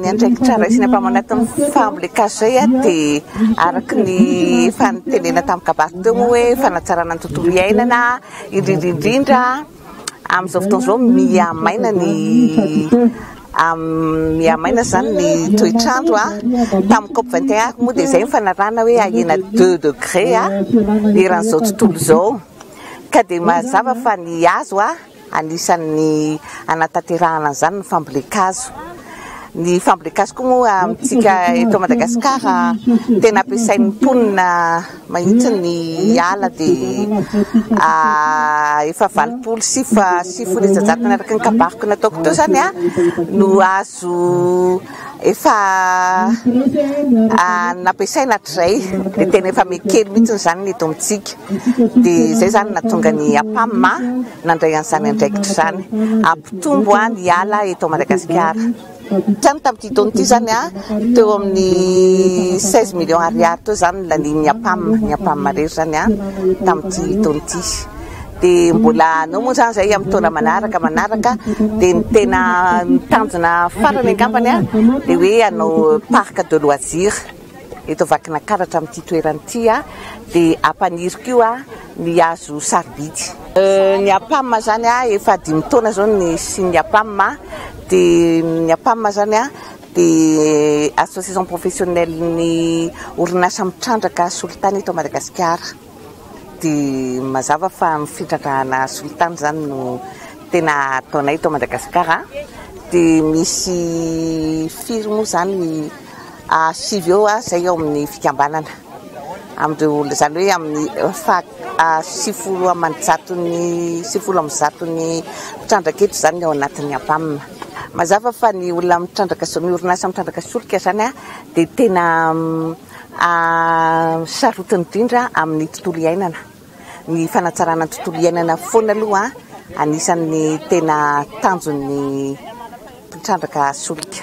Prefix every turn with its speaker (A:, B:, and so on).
A: Ny andraikitra raisina avy anatin'ny fambolen-kazo izay dia araka ny efa nitenenana tamin'ny kabary teo moa hoe fanatsarana ny tontolo iainana, indrindra indrindra amin'izao fotoana izao mihamaina ny mihamaina izany ny toetr'andro a tamin'ny cop 21 ariko moa dia izay ny fanarahana hoe ahena deux degré a eran'izao tontolo izao ka dia mazava fa ny hazo a Anisan'ny hanatanterahana an'izany ny fambolen-kazo. Ny fambolen-kazo koa moa amintsika eto Madagasikara tena ampiasain'ny mponina mahitsy ny ala dia efa valopolo sy sivifolo isan-jatony araka ny kabariko nataoko teo izany no azo efa nampiasaina hatrizay dia tena efa mekely mihitsy izany ny eto amintsika dia izay izany no nahatonga ny Apam nandray an'izany andraikitra izany hampitombo ny ala eto Madagasikara. Hatrany tamin'ity taona ity izany teo amin'ny seize millions ariary teo izany no lanian'ny Apam, ny Apam irery izany tamin'ity taona ity. dia mbola hanao moa izany izay amin'ny taona manaraka manaraka dia ny tena tanjona farany angambany a dia hoe hanao parc de loisir eto Vakinakaratra amin'ity toerana ity a dia hampaniriko io a ny hazo sarobidy euh, ny apam izany a efa dimy taona izao ny signe apam dia ny apam izany a dia association professionnelle ny orinasa mitrandraka solitany eto Madagasikara Dia mazava fa ny fitrandrahana solitany izany no tena ataonay eto Madagasikara. Dia misy firy moa izany? sivy eo aho izay ao amin'ny fikambanana. Amin'ireo, izany hoe amin'ny sivifolo aman-jaton'ny, sivifolo amby zaton'ny mpitrandraka eto izany ny ao anatin'ny APAM. Mazava fa ny olona mitrandraka, ny orinasa mitrandraka solika izany dia tena. sarotiny indrindra amin'ny tontolo iainana. Ny fanatsarana ny tontolo iainana foana aloha anisan'ny tena tanjon'ny mpitrandraka solika.